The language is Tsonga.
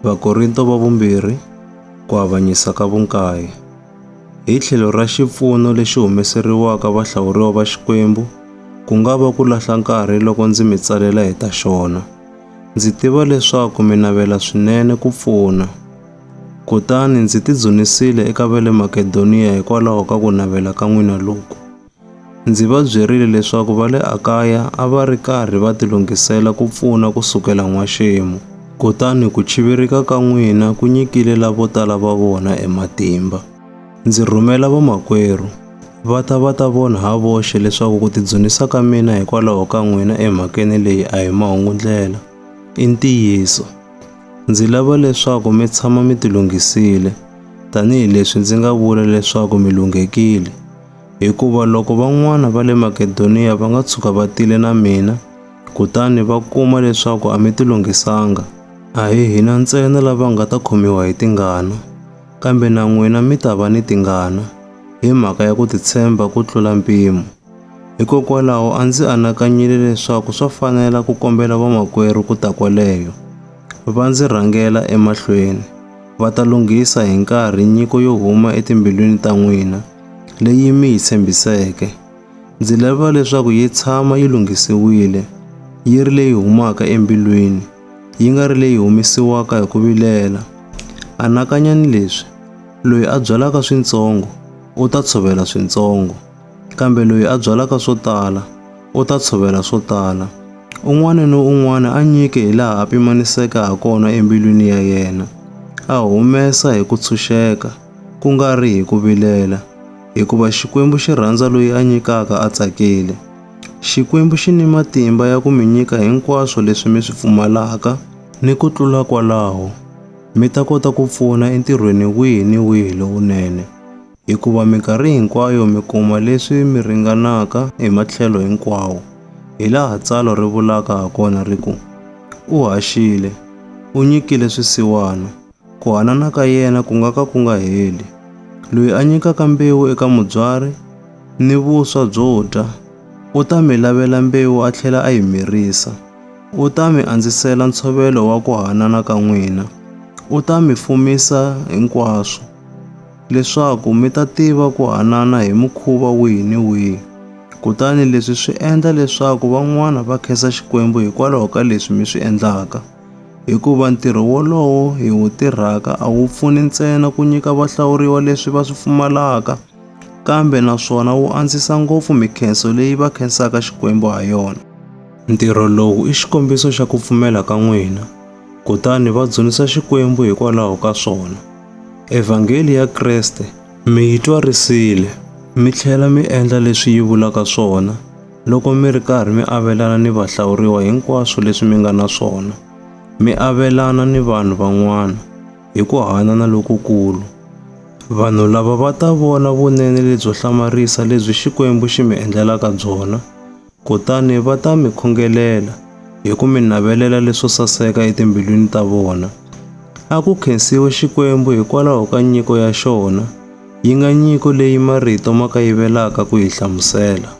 Vakorinto va vumbirhi, ku avanyisa ka vunkaye. Hi tlhelo ra xipfuno lexi humeseriwaka vahlawuriwa va Xikwembu, ku nga va ku lahla nkarhi loko ndzi mi tsalela hi ta xona. Ndzi tiva leswaku mi navela swinene ku pfuna. Kutani ndzi tidzunisile eka va le Makedoniya hikwalaho ka ku navela ka n'wina loku. Ndzi va byerile leswaku va le Akaya a va ri karhi va tilunghisela ku pfuna ku sukela n'waxemu, kutani ku chivirika ka n'wina ku nyikile lavo tala va vona e matimba. Ndzi rhumela vamakwerhu, va ta va ta vona ha voxe leswaku ku tidzunisa ka mina hikwalaho ka n'wina emhakeni leyi a hi mahungu-ndlela, i ntiyiso. Ndzi lava leswaku mi tshama mi tilunghisile, tanihi leswi ndzi nga vula leswaku mi lunghekile. Hikuva loko van'wana va le Makedoniya va nga tshuka va tile na mina, kutani va kuma leswaku a mi tilunghisanga, a hi hina ntsena lava nga ta khomiwa hi tingana, kambe na n'wina mi ta va ni tingana, hi mhaka ya ku titshemba ku tlula mpimo. Hikokwalaho a ndzi anakanyile leswaku swa fanela ku kombela vamakwerhu ku ta kwaleyo, va ndzi rhangela emahlweni, va ta lunghisa hi nkarhi nyiko yo huma etimbilwini ta n'wina, leyi mi yi tshembiseke. Ndzi lava leswaku yi tshama yi lunghisiwile, yi ri leyi humaka embilwini, yi nga ri leyi humesiwaka hi ku vilela. Anakanyani leswi, loyi a byalaka swintsongo u ta tshovela swintsongo, kambe loyi a byalaka swo tala u ta tshovela swo tala. Un'wana ni un'wana a nyike hi laha a pimaniseke ha kona embilwini ya yena, a humesa hi ku tshunxeka. ku nga ri hi ku vilela, hikuva Xikwembu xi rhandza loyi a nyikaka a tsakile. Xikwembu xi ni matimba ya ku mi nyika hinkwaswo leswi mi swi pfumalaka ni ku tlula kwalaho, mi ta kota ku pfuna entirhweni wihi ni wihi lowunene, hikuva minkarhi hinkwayo mi kuma leswi mi ringanaka hi matlhelo hinkwawo, hi laha tsalwa ri vulaka ha kona ri ku, U haxile, u nyikile swisiwana. Ku hanana ka yena ku nga ka ku nga heli. Loyi a nyikaka mbewu eka mubyari ni vuswa byo dya u ta mi lavela mbewu a tlhela a yi mirisa. U ta mi andzisela ntshovelo wa ku hanana ka n'wina, u ta mi fumisa hinkwaswo, leswaku mi ta tiva ku hanana hi mukhuva wihi ni wihi. Kutani leswi swi endla leswaku van'wana va khensa Xikwembu hikwalaho ka leswi mi swi endlaka. hikuva ntirho wolowo hi wu tirhaka a wu pfuni ntsena ku nyika vahlawuriwa leswi va swi pfumalaka, kambe naswona wu andzisa ngopfu mikhenso leyi va khensaka Xikwembu ha yona. Ntirho lowu i xikombiso xa ku pfumela ka n'wina, kutani va dzunisa Xikwembu hikwalaho ka swona. Evhangeli ya Kreste mi yi twarisile, mi tlhela mi endla leswi yi vulaka swona, Loko mi ri karhi mi avelana ni vahlawuriwa hinkwaswo leswi mi nga na swona, mi avelana ni vanhu van'wana hi ku hanana lokukulu. Vanhu lava va ta vona vunene lebyo hlamarisa lebyi Xikwembu xi mi endlelaka byona, kutani va ta mi khongelela hi ku mi navelela leswo saseka etimbilwini ta vona. A ku khensiwe Xikwembu hikwalaho ka nyiko ya xona, yi nga nyiko leyi marito ma kayivelaka ku yi hlamusela.